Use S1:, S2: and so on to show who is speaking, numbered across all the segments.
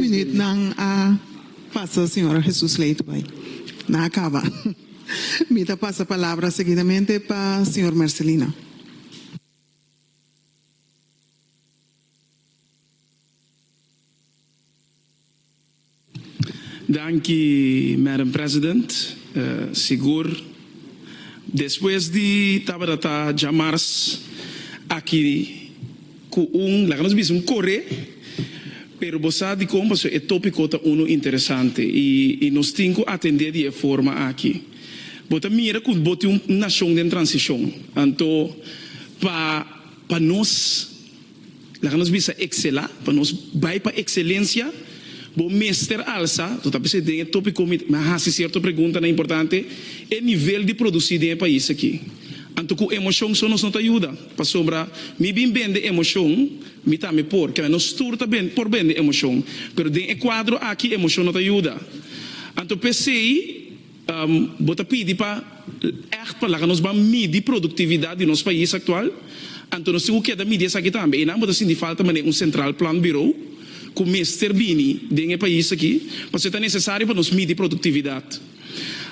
S1: Minut nan a pasa Señor Jesus lei tu bay nan a caba mi ta pasa palabra seguidamente pa Señor Marcelino.
S2: Danki Madam President, sigur despues di tabata ta djamars aki. Cu un, laga nos bisa un coré, pero bo sa dicon pasobra e topico ta uno interesante y y nos tin cu atendé di e forma aki. Bo ta mira cu bo tin un nacion den transicion, anto pa pa nos, laga nos bisa excela, pa nos bay pa excelencia, bo mester alsa, to ta bisa den e topico mi mi a haci cierto preguntanan importante, e nivel di produci den e pais aki. Anto cu emocion so nos no ta yuda. Pasobra mi bin bende emocion, mi tambe por. Kende nos tur ta bende, por bende emocion. Pero den e cuadro aki emocion no ta yuda. Anto p'esey bo ta pidi pa echt pa laga nos ban midi productividad di nos pais actual? Anto nos tin cu keda midi esaki tambe. Eynan bo ta sinti falta manera un central plant bureau cu mester bini den e pais aki. Pasobra ta necesario pa nos midi productividad.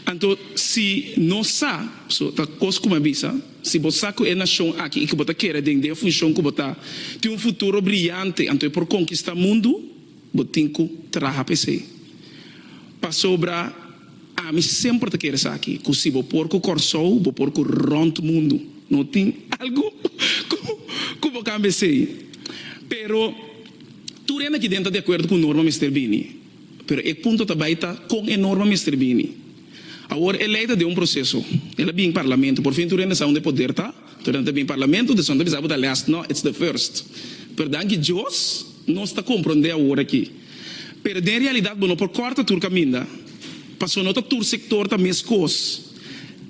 S2: Anto si nos sa, so ta cos cu mi a bisa. Si bo sa cu e nacion aki y cu bo ta kere dende e funcion cu bo ta tin un futuro briyante, anto e por konkistá mundu, bo tin cu traha pa esei. Pasobra ami semper ta kere esaki, cu si bo por cu Kòrsou, bo por cu rònt mundu. No tin algu cu cu bo cambia esei. Pero tur hende aki den ta di acuerdo cu Norma mester bini. Pero e punto ta bai ta kon e norma mester bini. Awor e lei ta den un proseso. El a bin parlamento. Por fin tur hende sa unda e poder ta. Tur hende ta bin parlamento, dus hende ta bisa bo ta last. No, it's the first. Pero danki Dios nos ta komprondé awor aki. Pero den realidat bo no por kòrta tur kaminda. Paso no ta tur sektor ta meskos.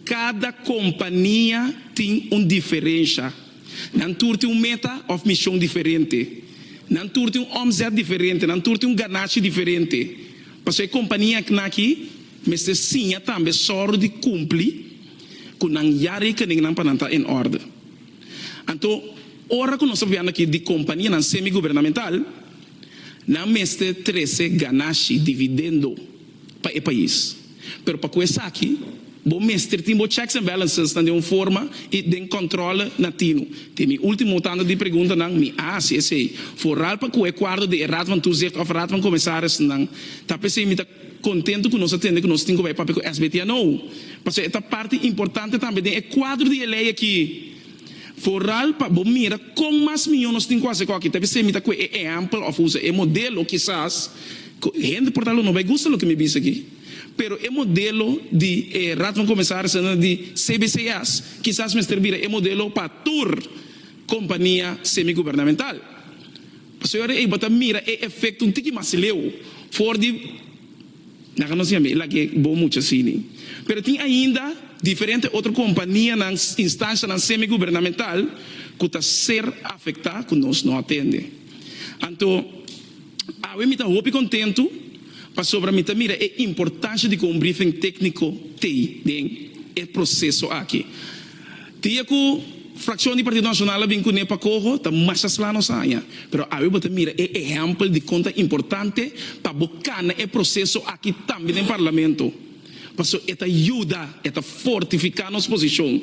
S2: Kada kompania tin un diferensha. Nan tur tin un meta òf mishon diferente. Nan tur tin un òmzèt diferente, nan tur tin un ganashi diferente. Pasobra e kompania eknaki mester siña tambe sòru di kumpli ku nan ya rekeningnan pa nan ta en òrde. Anto ora ku nos ta hablando aki di kompanianan semigubernamental, nan mester trese ganashi, dividendo. pa e pais. Pero pa cu esaki bo mester tin bo checks and balances nan den un forma y den controle na tinu. Te mi ultimo tanda di preguntanan mi a haci esey, vooral pa cu e cuarto di e Raad van Toezicht of Raad van Commissarissen ta pesey mi ta contento cu nos a tende cu nos tin cu bay papia cu SBTNO pasobra e ta parti importante tambe den e cuadro di e ley aki. Vooral pa bo mira con mas miyon nos tin cu haci cu aki ta pesey mi ta cu e ehempel of usa e modelo kisas Hende por tal no bai gusta loke mi bisa aki, pero e modelo di e Raad van Commissarissen di CBCA's kisas mester bira e modelo pa tur compania semigubernamental. Pasobra di ey bo ta mira e efecto un tiki mas leu for di nan ga no siña mi lag'e bo mucha asini, pero tin ainda diferente otro companianan, instancianan semigubernamental cu ta ser afecta cu nos no atende. Anto. Awe mi ta hopi kontentu pasobra mi ta mira e importansha di ku un briefing tékniko tei den e proseso aki. Dia ku frakshon di Partido Nashonal a bin kuné pa koho ta mas aslá nos haña, pero awe bo ta mira e ehèmpel di kon ta importante pa bo kana e proseso aki tambe den Parlamento paso e ta yuda, e ta fortifiká nos posishon.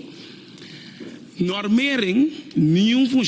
S2: Nòrmeren, niun.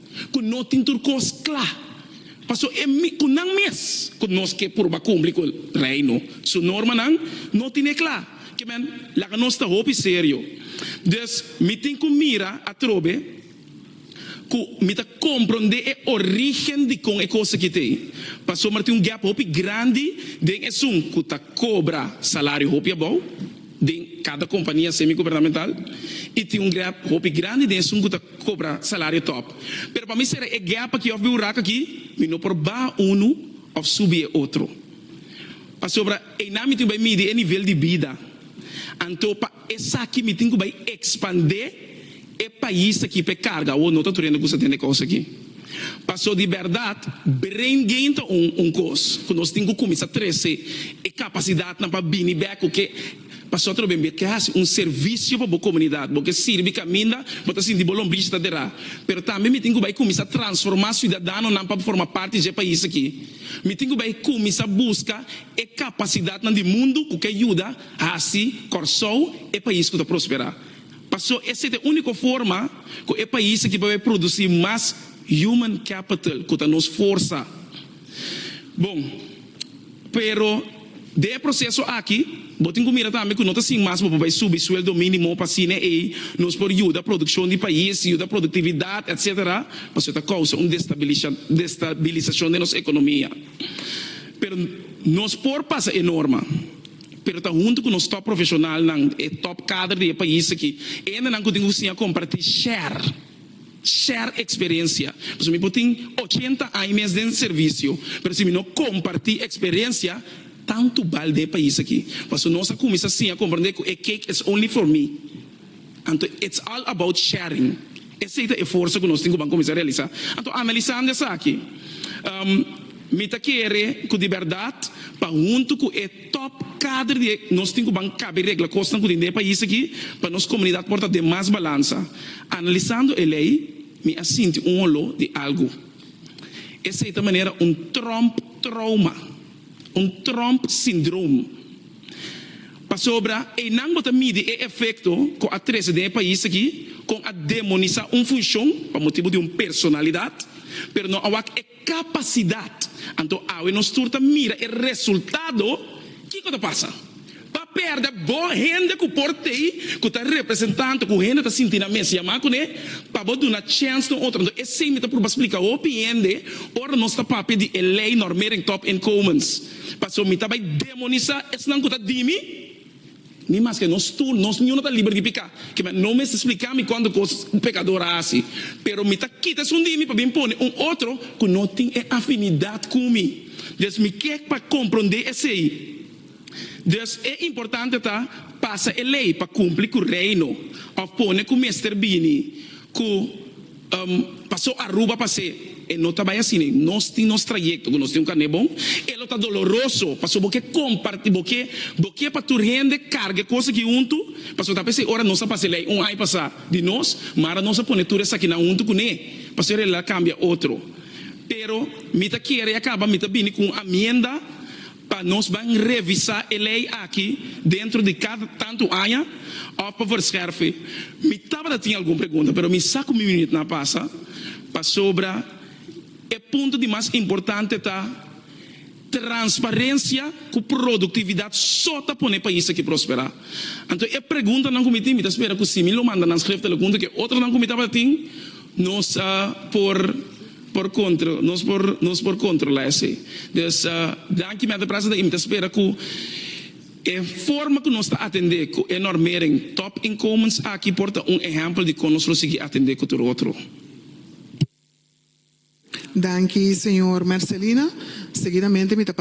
S2: ku no tin tur kos kla, paso e mikunan mes ku nos ke purba kumpli ku Reino su normanan no tin e kla. Ke men, laga nos ta hopi serio. Dus, mi tin ku mira atrobe ku mi ta komprondé e orígen dikon e kos aki ta ei, pasobra mi ta tin un gèp hopi grandi den esun ku ta kobra salario hopi abou den kada kompania semigubernamental i tin un gèp hopi grandi den esun ku ta. cobra salario top. Pero pa mi sera e gap aki of bihurak aki mi no por baha unu of subi e otro. Pasobra einan mi tin cu bay midi e nivel di bida. Anto pa esaki mi tin cu bay expande e pais aki pa e carga awor no ta tur hende cu sa den e cos aki. Paso di berdad brain gain ta un un cos cu nos tin cu cuminsa trece e capacidadnan pa bini bek cu ke. Pasobra lo bembe ta hasi un servisio pa bo komunidat. Bo ke sirbi kaminda bo ta sinti bo lombrichi ta derá. Pero tambe mi tin ku bai kuminsá transformá siudadanonan pa forma parti dje pais akí. Mi tin ku bai kuminsá buska e kapasidatnan di mundu ku ke yuda hasi Kòrsou e pais ku ta prosperá. Paso esei ta e úniko forma ku e pais akí por bai produsí mas human capital ku ta nos forsa. Bon, pero den e proseso aki bo tin ku mira tambe ku no ta sin mas bo por bai subi sueldo minimo pa asina ei nos por yuda produkshon di pais, yuda produktividat etc. Pasobra ta kousa un destabilisashon den nos ekonomia. Pero nos por pasa e norma pero ta huntu ku nos top profeshonalnan, e top kader di e pais aki, endenan ku tin ku siña komparti share. Share experiencia. Pasobra mi por tin ochenta aña mes den servicio, pero si mi no comparti experiencia, tantu bal den e pais aki. Pasobra nos a cuminsa siña comprende cu e cake is only for me. Anto it's all about sharing. Esey ta e forsa cu nos tin cu ban cuminsa realisa. Anto analisando esaki, mi ta kere cu di berdad pa hunto cu e. Top kader di e nos tin ku ban kabe regla kosnan ku tin den e pais aki pa nos komunidat por ta den mas balansa. Analisando e lei mi a sinti un oló di algu. Esei ta manera un Trump trouma, un Trump syndrome. Pasobra einan bo ta midi e efekto ku a trese den e pais aki kon a demonisá un funshon pa motibu di un personalidat pero no a wak e Kapasidat. Anto awe nos tur ta mira e resultado. Kiko ta pasa? Pa pèrdè bo hende ku por t'ei ku ta representá anto ku hende ta sinti nan mes yamá kuné pa bo duna chèns na otro. Anto esei mi ta pruba splika hopi hende ora nos ta papia di e lei normering top inkomens. Paso mi ta bai demonisá esnan ku ta dimi Ni maske nos tur, nos niño no ta liber di piká. Kima, no mester spliká mi kuantu kos un pekador a hasi. Pero mi ta kita esun di mi pa bin pone un otro ku no tin e afinidat ku mi. Dus mi ke pa komprondé esei. Dus, e importante ta pasa e lei pa kumpli ku Reino òf pone ku mester bini ku. Paso Aruba pa se e no ta bai asina e nos tin nos trayecto cu nos tin un carne bon e lo ta doloroso paso bo ke comparti bo ke bo ke pa tur hende carga e cosa aki huntu paso ta p'esey ora nos a pasa ley un aña pasa di nos mara nos a pone tur esakinan huntu cu ne paso e realidad cambia otro pero mi ta kere ya caba mi ta bini cu un amienda pa nos ban revisa e ley aki dentro di cada tanto aña of pa verscherfe. Mi tabata tin algun pregunta pero mi sa cu mi minut na pasa pasobra e punto di mas importante ta transparencia cu productividad so ta pone pais aki prospera. Anto e preguntanan cu mi tin mi ta spera cu si mi lo manda nan schriftelikund cu e otronan cu mi tabata tin nos por Por contra, nos por nos por controla esey. Dus, dan ki mi a ta presenta y mi ta spera cu e forma cu nos ta atende cu e normering top inkomens aki por ta un ehempel di con nos lo sigui atende cu tur otro.
S1: Danki señor Mercelina. Seguidamente mi ta.